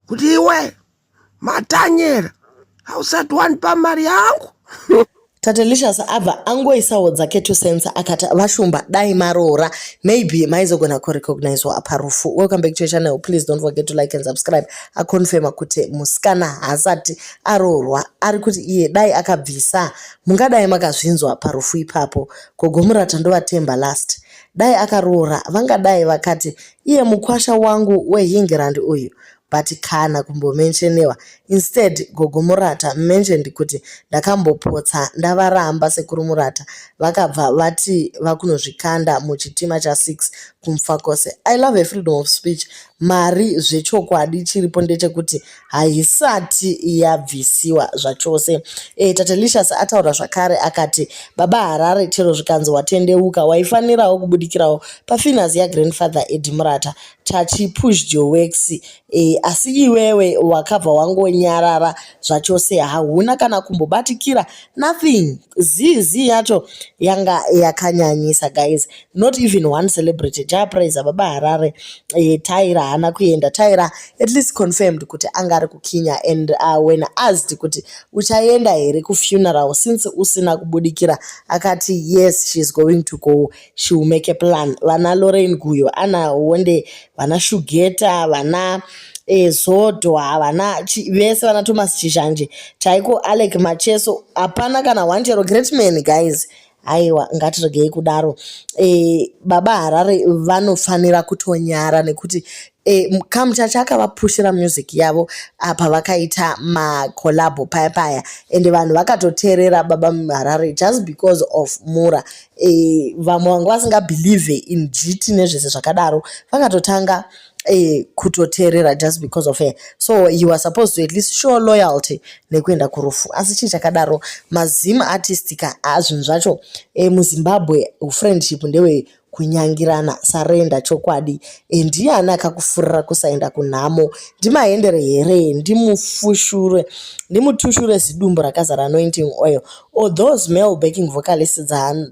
kuti iwe matanyera hausati wandipa mari yangu tatelicious abva angoisawo dzake two cents akati vashumba dai maroora maybe maizogona kurecognizwa apa rufu welcome back to your channel please don't forget to like and subscribe aconfirma kuti musikana haasati aroorwa ari kuti iye dai akabvisa mungadai makazvinzwa parufu ipapo gogomurata ndovatemba last dai akaroora vangadai vakati iye mukwasha wangu weEngland uyu but kana kumbomentionewa instead gogo murata mentioned kuti ndakambopotsa ndavaramba sekuru murata vakabva vati vakunozvikanda muchitima cha6 kumfakose i love a freedom of speech mari zvechokwadi chiripo ndechekuti haisati yabvisiwa zvachose. E, Tatelicious ataura zvakare akati, Baba Harare chero zvikanzi watendeuka, waifanirawo kubudikirawo pafinance yagrandfather Edi Murata. Chachi pushed your works. E, asi iwewe wakabva wangonyarara zvachose hauna kana kumbobatikira nothing. Zizi yacho yanga yakanyanyisa guys. not even one celebrity japraiser baba harare eh, tyra haana kuenda tyra at least confirmed kuti anga ari kukinya and uh, when asked kuti uchaenda here kufuneral since usina kubudikira akati yes she is going to go she will make a plan vana lorain guyo ana wonde vana shugeta vana e, zodo havana vese vana thomas chishanje chaiko alec macheso hapana kana one chero great man guys aiwa ngatiregei kudaro e, baba harare vanofanira kutonyara nekuti e, kamuchacha akavapushira music yavo apa vakaita macolabo paya paya ende vanhu vakatoteerera baba harare just because of mura e, vamwe vanga vasingabelieve in jiti nezvese zvakadaro vakatotanga eh, kutoteerera just because of her so he was supposed to at least show loyalty nekuenda kurufu asi chii chakadaro mazim artist ka azvinhu zvacho eh, muzimbabwe friendship ndewe kunyangirana sarenda chokwadi eh, ndiani akakufurira kusaenda kunhamo ndimaendere here ndimufushurwe ndimutushure zidumbu rakazara anointing oil or those male backing vocalist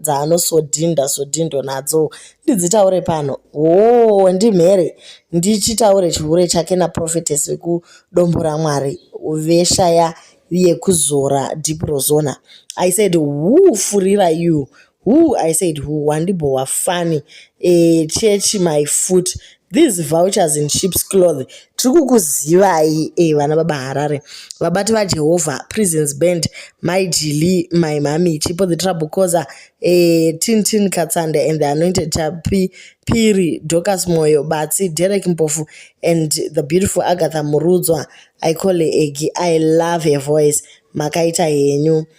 dzaano sodhinda sodhindo nadzo ndidzitaure pano hoo ndimhere ndichitaure chihure chake naprofetes vekudombo ramwari veshaya yekuzora deep rozona i said who furira you who i said who wandibhowa fani e, chechi my foot These vouchers in sheep's cloth tiri kukuzivai eh, vana baba harare vabati vajehovha prisons band mai jili mai mami chipo the trouble causer eh, tintin katsande and the anointed chapi piri docas moyo batsi derek mpofu and the beautiful agatha murudzwa i call her egi i love her voice makaita henyu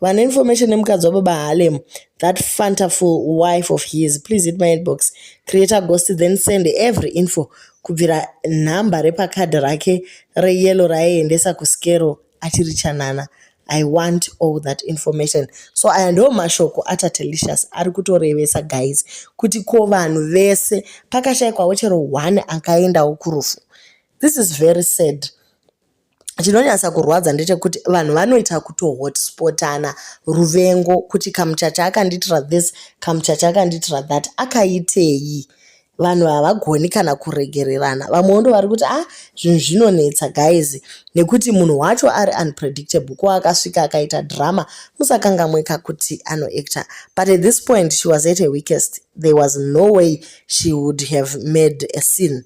vane information nemukadzi wababa halem that fantafull wife of his please hit my inbox create a ghost then send every info kubvira nhamba repakadhi rake reyellow raiendesa kuskero achiri chanana i want all that information so aya ndo mashoko atatelicious ari kutorevesa guys kuti ko vanhu vese pakashaikwawo chero one akaendawo kurufu this is very sad chinonyasa kurwadza ndechekuti vanhu vanoita kutohotspotana ruvengo kuti kamuchacha akandiitira this kamuchacha akandiitira that akaitei vanhu havagoni kana kuregererana vamwewo ndo vari kuti ah zvinhu zvinonetsa guys nekuti munhu wacho ari unpredictable ko akasvika akaita drama musakangamweka kuti anoactor but at this point she was at a weakest there was no way she would have made a scene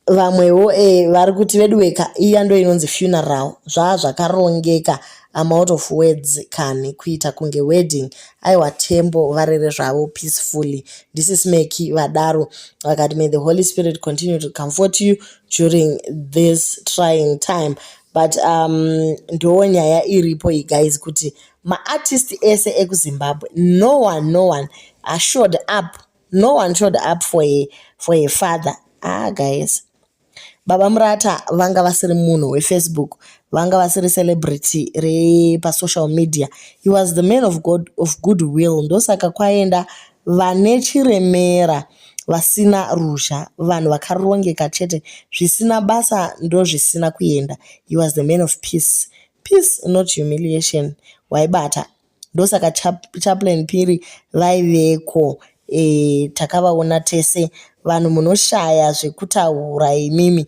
vamwewo e vari kuti veduweka iya ndo inonzi funeral zvaa zvakarongeka amount of words kani kuita kunge wedding aiwa tembo varere zvavo peacefully ndisis meki vadaro vakati may the holy spirit continue to comfort you during this trying time but um ndoo nyaya iripo iyi guys kuti maartist ese ekuzimbabwe no one no one ashored up no one showed up for a, for a father ah guys baba murata vanga vasiri munhu wefacebook vanga vasiri celebrity repasocial media he was the man of, God, of good will ndosaka kwaenda vane chiremera vasina ruzha vanhu vakarongeka chete zvisina basa ndozvisina kuenda he was the man of peace peace not humiliation waibata ndosaka chaplain phiri vaiveko e, takavaona tese vanhu munoshaya zvekutaura imimi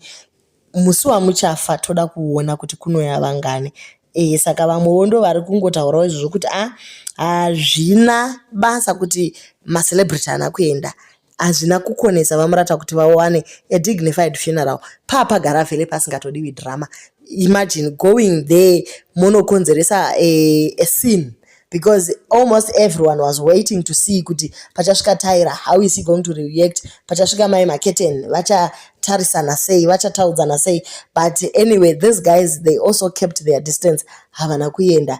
musi wamuchafa toda kuona kuti kunoya vangani e, saka vamwewo ndo vari kungotaurawo izvozvo kuti a ah, hazvina basa kuti macelebrity ana kuenda hazvina kukonesa vamurata kuti vawane a dignified funeral paa pagara vhele pasingatodiwi drama imagine going there monokonzeresa a, a scene because almost everyone was waiting to see kuti pachasvika tyra how is he going to react pachasvika mai maketen vachatarisana sei vachataudzana sei but anyway these guys they also kept their distance havana kuenda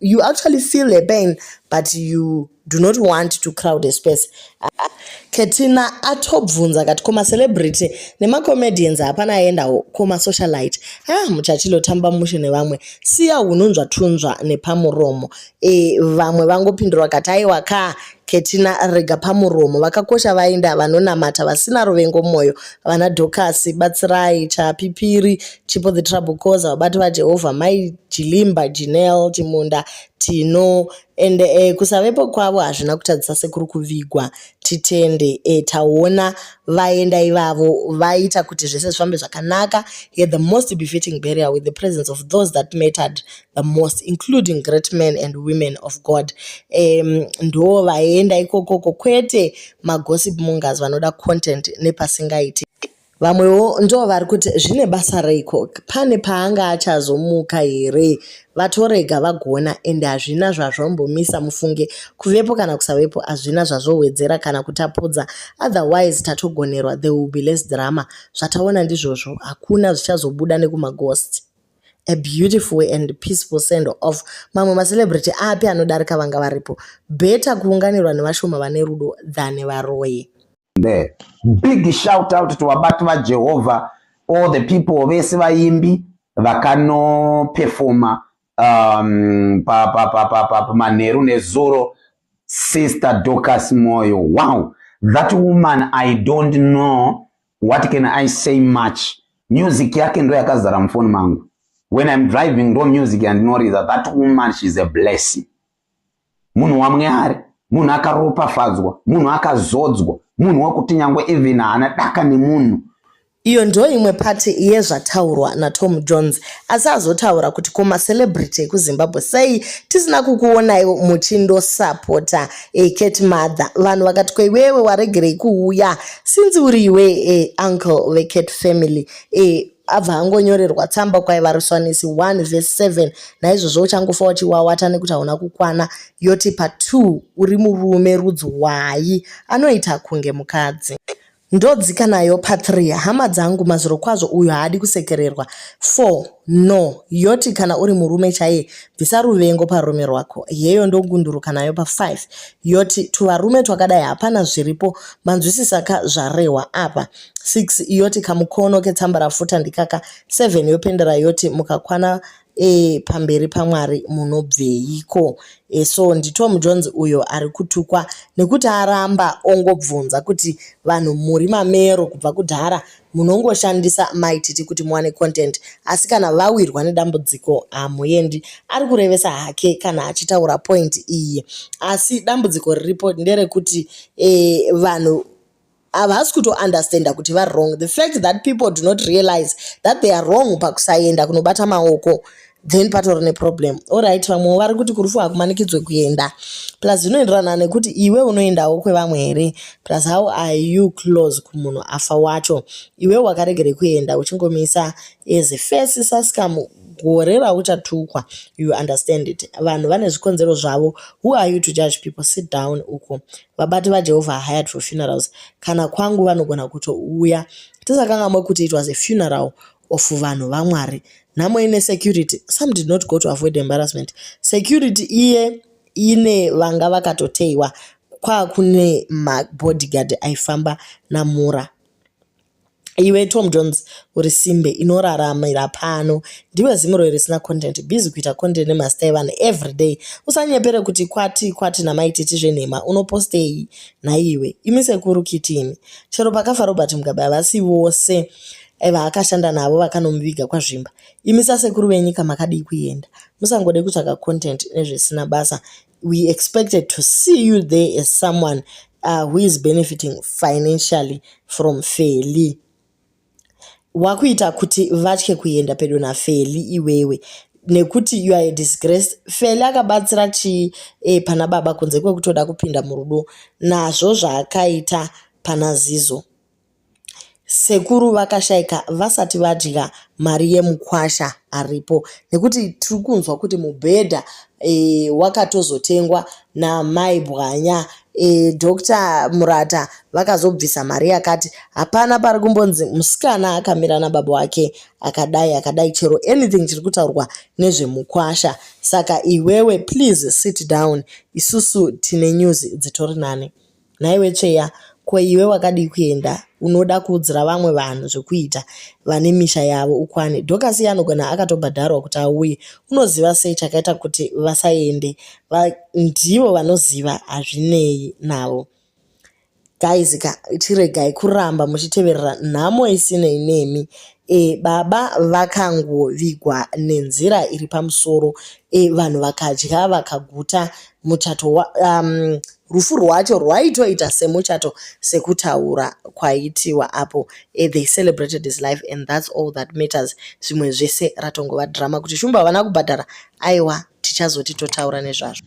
you actually feel the pain but you do not want to crowd a space ketina atobvunza kati koma celebrity nemacomedians hapana aendawo koma socialite ha ah, muchachilo tamba mushe nevamwe siya hununzva tunzva nepamuromo e, vamwe vangopindura kati aiwa ka Ketina rega pamuromo vakakosha vainda vanonamata vasina ruvengo mwoyo vana Dhokasi batsirai chapipiri chipo the trouble causer vabati vaJehovha mai Jilimba Jinel Chimunda Tino ende eh, kusavepo kwavo hazvina kutadzisa sekuru kuvigwa titende eh, taona vaenda ivavo vaita kuti zvese zvifambe zvakanaka yet the most befitting burial with the presence of those that mattered the most including great men and women of god um, ndo vaenda ikokoko kwete magossip mongers vanoda content nepasingaiti vamwewo ndo vari kuti zvine basa reiko pane paanga achazomuka here vatorega vagona ende hazvina zvazvombomisa mufunge kuvepo kana kusavepo hazvina zvazvowedzera kana kutapudza otherwise tatogonerwa the will be less drama zvataona ndizvozvo hakuna zvichazobuda nekumaghost a beautiful and peaceful send off mamwe macelebrity api anodarika vanga varipo beta kuunganirwa nevashoma vane rudo than varoyi the big shout out to vabati vajehovha all the people vese vaimbi vakanopefoma um, pamanheru pa, pa, pa, nezuro sister docas moyo wow that woman i don't know What can I say much? Music yake ndo yakazara mufoni mangu. When I'm driving ndo music yandinoriza. That woman she's a blessing. Munhu wamwari, munhu akaropafadzwa, munhu akazodzwa, munhu wekuti nyangwe even haana daka nemunhu. Iyo ndo imwe pati yezvataurwa naTom Jones asi azotaura kuti ko macelebrity ekuZimbabwe sei tisina kukuonaiwo muchindosapota Hey, eh, Kate mother vanhu vakati kweiwewe waregerei kuuya sinzi uri iwe hey, eh, uncle vekate family hey, eh, abva angonyorerwa tsamba kwaiva ruswanisi 1 vese 7 naizvozvo uchangofa uchiwawata nekuti hauna kukwana yoti pa2 uri murume rudzi wayi anoita kunge mukadzi Ndodzika nayo pa 3 hama dzangu mazvirokwazvo uyu haadi kusekererwa 4 no yoti kana uri murume chaiye bvisa ruvengo parume rwako yeyo ndogunduruka nayo pa 5 yoti tuvarume twakadai hapana zviripo manzwisisa ka zvarehwa apa 6 yoti kamukono ketsambarafuta ndikaka 7 yopendera yoti mukakwana e, pamberi pamwari munobveiko e, so nditom jones uyo ari kutukwa nekuti aramba ongobvunza kuti vanhu muri mamero kubva kudhara munongoshandisa maititi kuti muwane content asi kana vawirwa nedambudziko hamuendi ari kurevesa hake kana achitaura point iyi asi dambudziko riripo nderekuti e, vanhu havasi kutounderstanda kuti vari wrong the fact that people do not realize that they are wrong pakusaenda kunobata maoko then patori neproblem orit vamwewo vari kuti kurufu hakumanikidzwe kuenda plus zvinoenderana nekuti iwe unoendawo kwevamwe here plus how are you close kumunhu afa wacho iwe wakaregere kuenda uchingomisa as first sascam gore rauchatukwa you understand it vanhu vane zvikonzero zvavo who are you to judge people sit down uko vabati vaJehovha are hired for funerals kana kwangu vanogona kutouya tisakangamwe kuti it was a funeral of vanhu vamwari nhamo ine security some did not go to avoid embarrassment security iye ine vanga vakatoteiwa kwakune mabodyguard aifamba namura Iwe Tom Jones uri simbe inoraramira pano. Ndiwe zimuro risina content. Busy kuita content nemasta evanhu every day. Usanyepere kuti kwati kwati namai titi zvenhema unopostei nhaiwe. Imi sekuru kiti imi. Chero pakafa Robert Mugabe havasi vose eh, vaakashanda navo vakanomuviga kwaZvimba. Imi sasekuru venyika makadii kuenda. Musangode kutsvaga content nezvisina basa. we expected to see you there as someone uh, who is benefiting financially from feli wakuita kuti vatye kuenda pedo nafeli iwewe nekuti you are a disgrace feli akabatsira chii e, pana baba kunze kwekutoda kupinda murudo nazvo zvaakaita pana zizo Sekuru vakashaika vasati vadya mari yemukwasha aripo nekuti tiri kunzwa kuti mubhedha e, wakatozotengwa namai Bwanya e, Dr Murata vakazobvisa mari yakati hapana pari kumbonzi musikana akamira nababa wake akadai akadai chero anything chiri kutaurwa nezvemukwasha saka iwewe please sit down isusu tine news dzitori nani Nhaiwe Tsveya, ko iwe wakadii kuenda unoda kuudzira vamwe vanhu zvekuita vane misha yavo ukwane? Dhokasi iye anogona akatobhadharwa kuti auye. Unoziva sei chakaita kuti vasaende? Va, ndivo vanoziva, hazvinei navo. Guys ka, chiregai kuramba muchiteverera nhamo isinei nemi. E, baba vakangovigwa nenzira iri pamusoro. E, vanhu vakadya vakaguta muchato wa, um, rufu rwacho rwaitoita semuchato sekutaura kwaitiwa apo eh, they celebrated his life and that's all that matters zvimwe zvese ratongova drama kuti shumba havana kubhadhara aiwa tichazoti totaura nezvazvo